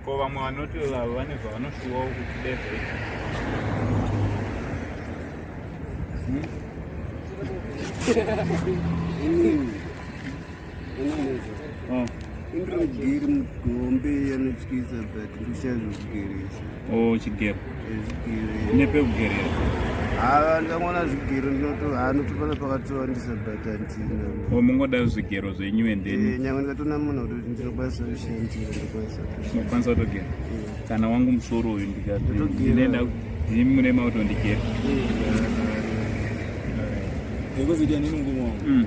ko vamwe vanoti vavo vane zvavanoshuwawo kuti deve hmm? Indigiri mugombe anotyisa but ndishazo kugeresa. Oh, chigero. Chigero. Nepekugerera. Ava ndangona zvigero ndinoto anotopana pakatowandisa but antina. Oh, mungoda zvigero zvenyu and then. Eh, nyangwe ndikatona munhu kuti ndinokwanisa kushandira ndokwanisa. Ndokwanisa kutogera. Eh. Kana wangu musoro uyu ndikati ndinenda ndimune mauto ndigera. Eh. Ndikuzidia nini ngumo. Mm.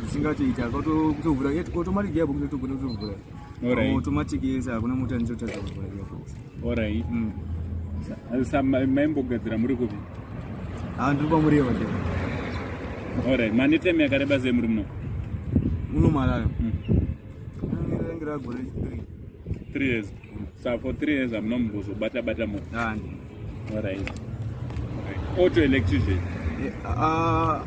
zvisingatoita kutovhura automatic gearbox inotogona kutovhura automatic yese hakuna mota ndinotadza kuvhura gearbox orit mm. sa maimbogadzira muri kupi ha ah, ndiri kwamureva te orit mane time yakareba sei muri muno unomalaya mm. mm, rangiragore three three years Sa for 3 years amuna mumbozo bata bata mo. Nani. All right. Auto electrician. Eh, ah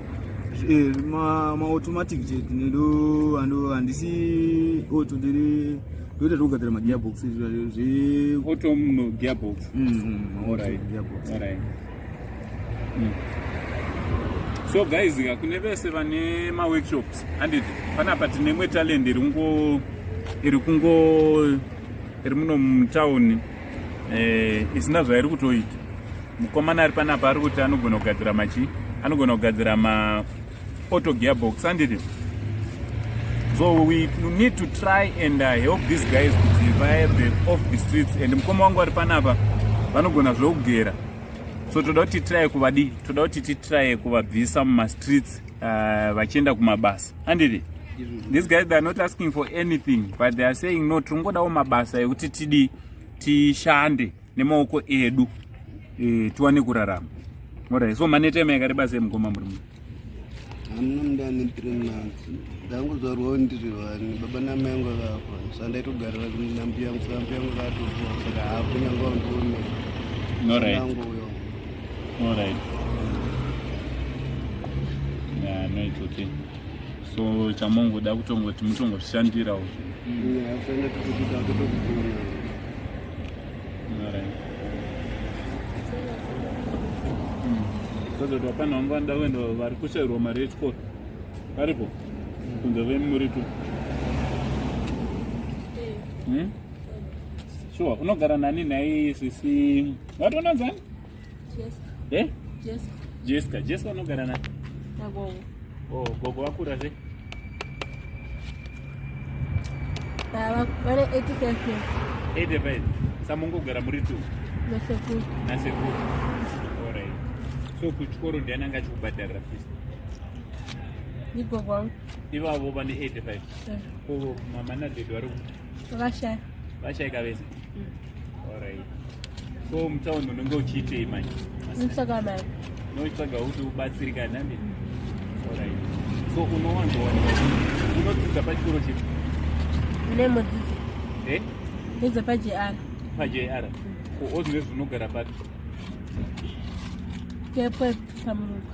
eh ma ma automatic je ndo ando andisi auto ndiri ndoita zvekugadzira ma gearbox zve auto no gearbox. Mm. All right. Gearbox. All right. mm. so guys ka kune vese vane maworkshops handiti panapa tine imwe talent iri kungo iri kungo iri muno mutown eh, isina zvairi kutoita mukomana ari panapa ari kuti anogona kugadzira machi anogona kugadzira ma auto gearbox handiti so we need to try and uh, help these guys kuti vaebe off the streets and mukoma wangu ari panapa vanogona zvekugera so toda kuti titry kuvadii toda kuti titry kuvabvisa mumastreets uh, vachienda kumabasa handiti these guys they are not asking for anything but they are saying no tiringodawo mabasa ekuti tidii tishande nemaoko edu e, tiwane kurarama orai so maneta ema yakareba sei mukoma muri mu hamuna mndani three months ndangozvarwawo ndiri vani baba namai yangu vakafa sa ndaitogarira nambi yangu sa mbi yangu vakatofa saka hapo nyange vandione orait orait ya no it's okay so chamongoda kutongoti mutongoshandirawo yeah, Kazoti vapana vangu vanoda kuenda vari kushairwa mari yechikoro varipo kunze vemuritu sure unogara nani nhai sisi wati unonzani Eh? Jessica. Jessica unogara na? Na gogo. Oh, gogo wakura zve? Baba, vane 85 years. 85. Samungogara muri tu? Na sekuru. Na sekuru. Alright. So kuchikoro ndiani anga achikubhadharira fees? Ni gogo wangu. Ivavo vane 85. Yeah. Ko mama na dede vari kuti? Vashaya. Vashaya kavese. Mm. All right. So mtaondo unenge uchiitei manje? Nditsvaga mari. Unotsvaga kuti ubatsirika nami. Mm. All right. So unowanza wani? Unodzidza pachikoro chipi? Mune mudzidzi. Eh? Ndidza pa JR. Pa JR. Mm. Ko ozvinezvi unogara papi? Kepwe pamuruka.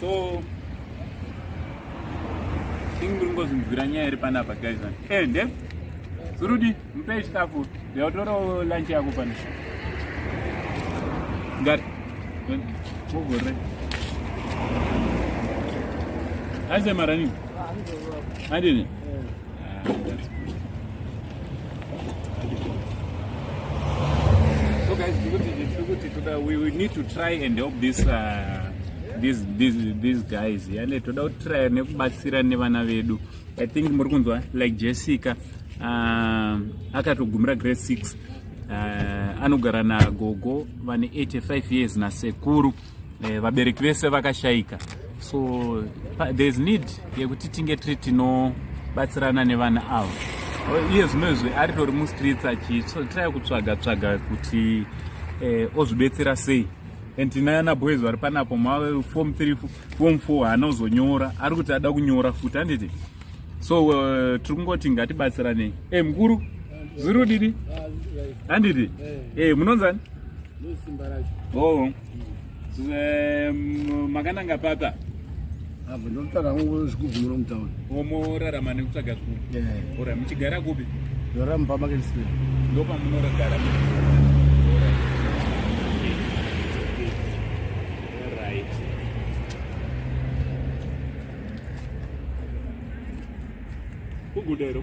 so ini muri ngozvinzwira nyaya iri panapa guys eh nde zurudi mupei chikafu ndautorawo lunch yako pano ngati mugore aise maranini andini So guys, tikuti toda we, we need to try and help this uh, these these these guys yale toda kutraya nekubatsira nevana vedu i think muri kunzwa like jessica uh, akatogumira grade 6 uh, anogara nagogo vane 85 years nasekuru eh, vabereki vese vakashaika so there is need yekuti tinge tiri tinobatsirana nevana avo iye zvino izvi aritori mustreets achitry kutsvaga tsvaga kuti eh, ozvibetsera sei and tinayana boys vari panapo mave form 3 form 4 haana uzonyora ari kuti ada kunyora futi handiti so uh, tiri kungoti ngatibatsiranei e eh, mukuru zviri kudini handiti e munonzani Oh. Um, makananga papa apa ndotsvaga hangu zvigubvu muno mutauni omorarama nekutsvaga zvigubvu eh. ora muchigara kupi ndorara mupamarket square ndopamunoragara kugudero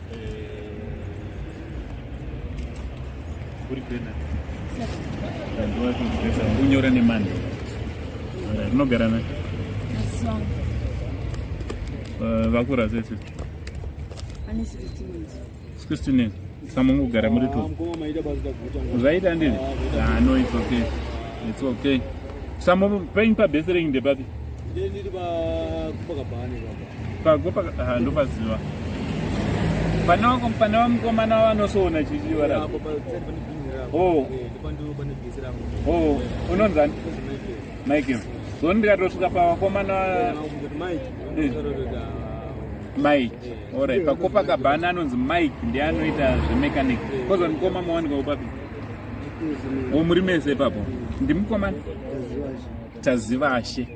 unyora nemani rinogara na eh, vakura sese 16 years samungogara muri tu zvaita ndini ah, no it's okay it's okay samu pain pabesering ndepapi pago ah, ndopaziva pane wako pane wamukomana wavanosoona chichivarao oh. oh, unonzani michael so ndikatosvika pavakomana eh. mike orit pakopa kabhana anonzi mike ndiye anoita zvemechanic koza mukoma mawanika upapi o oh, muri mese ipapo ndimukomana tazivashe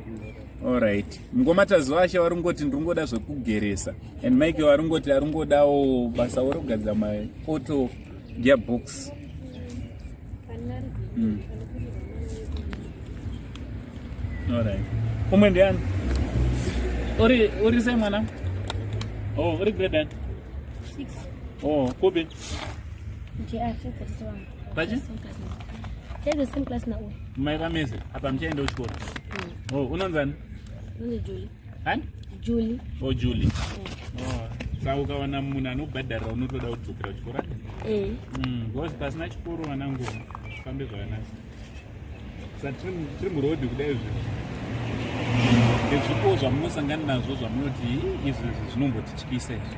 Alright. Mngoma Tazwashe vari kungoti ndiri kungoda zvekugeresa and Mike vari kungoti ari kungodawo basa vari kugadzira maauto gearbox. Mm. Alright. Umwe ndiani? Uri uri sei mwana? Oh, uri grade? 6. Oh, kupi? Ndiye afika Bachi? Tell the same class now. My ramese, apa mchaenda kuchikoro. Mm. Oh, unonzani? Unonzi Julie. Hani? Julie. Oh, Julie. Mm. Oh. Saka ukawana munhu anobhadharira unotoda kudzokera kuchikoro? Eh. Mm, because pasina chikoro vanangu zvifambe zvakanaka. Sa tiri muroad kudai izvi. Ndezvipo zvamunosangana nazvo zvamunoti izvi zvinombotityisa izvi.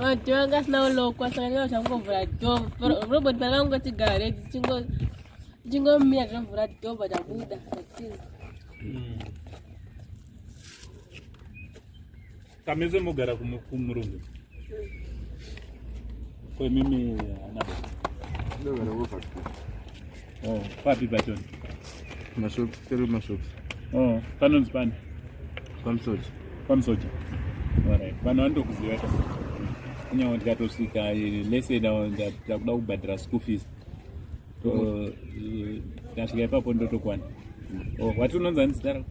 vantu vanga asina kulokwa saka ndinga zvangomvura dom robot pana vangoti gare tichingomira tinomvura dom vatabuda kamese mogara kumurungu kwemimi anaa Oh, papi Brighton? Mashops, tiri mashops. Oh, panonzi pani? Pamusoja. Pamusoja. Alright. Vanhu vanotokuziva ka. Kunyange ndikatosvika eh, lese ndakuda kubhadhara school fees. Oh, eh, ndasvika ipapo ndotokwana. Oh, wati unonzi ani zita rako?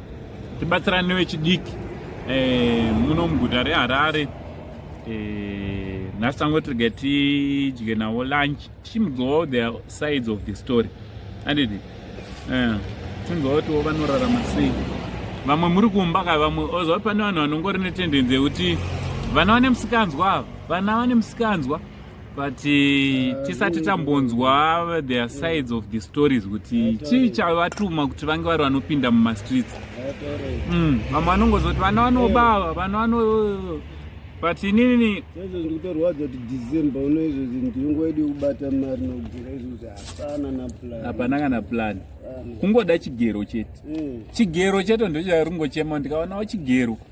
tibatsirane vechidiki eh, muno muguta reharare eh, nhasi tango tirege tidye navo lunch tichimudzovawo the sides of the story andidi eh, tichimudzovawo tiwo vanorarama sei vamwe muri kumba ka vamwe ozova pane vanhu vanongori netendenzi yekuti vana vane musikanzwa ava vana vane musikanzwa but uh, tisati tambonzwa their sides of the stories kuti chii chavatuma kuti vange vari vanopinda mumastreets mm, vamwe vanongozoti vana vanobawa vana vano but inini sezvo ndikutorwadza kuti december uno izvo zvinhu tiringoidi kubata mari nokugera izvozvi hapana naplan hapana kana plan kungoda chigero chete eh. chigero chete ndocharingochema ndikaonawo chigero mm.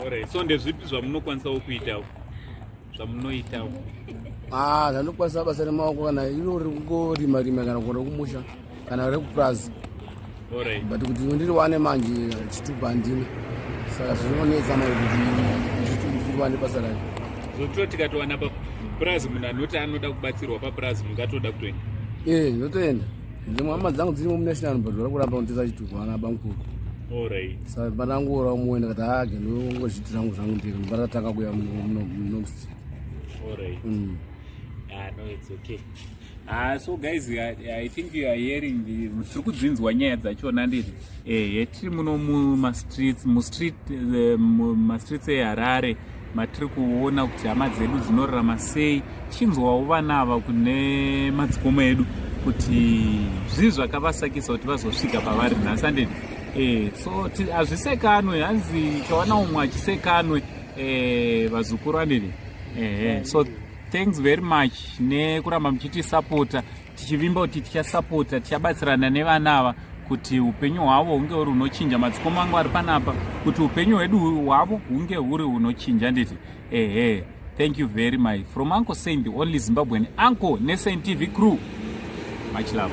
Alright, so ndezvipi zvamunokwanisawo kuitawo zvamunoitawo ah zvanokwanisa basa remaoko kana iro rekungorima rima kana kuenda kumusha kana rekupurazi Alright. but kuti ndiriwane manje chitubu handina saka zvinonetsa manje kuti ndiriwane basa racho zvotiwo tikatowana papurazi munhu anoti anoda kubatsirwa papurazi mungatoda kutoenda ee ndotoenda dzimwe hama dzangu dzirimo munational but vari kuramba kunditesa chitubu ana bamukuru sa pandangoora umwe ndikati hage ndongozviti zvangu zvangu ndiri pandatanga kuya munomstreet mm. ah, no it's okay Ah, so guys I, i think you are hearing tiri kudzinzwa nyaya dzachona ndiri ehe eh, tiri muno mumastreets mustreet eh, mumastreets eharare matiri kuona kuti hama dzedu dzinorarama sei tichinzwawo vana ava kune madzikomo edu kuti zvii zvakavasakisa kuti vazosvika pavari nhasi andedi e, so hazvisekanwe hanzi chawana umwe achisekanwe e, vazukuru andedi ehe so thanks very much nekuramba muchitisapota tichivimba kuti tichasapota tichabatsirana nevana ava kuti upenyu hwavo hunge huri hunochinja madzikoma angu ari panapa kuti upenyu hwedu hwavo hunge huri hunochinja nditi ehe thank you very much from uncle saint the only zimbabwean uncle nesaint tv crew much love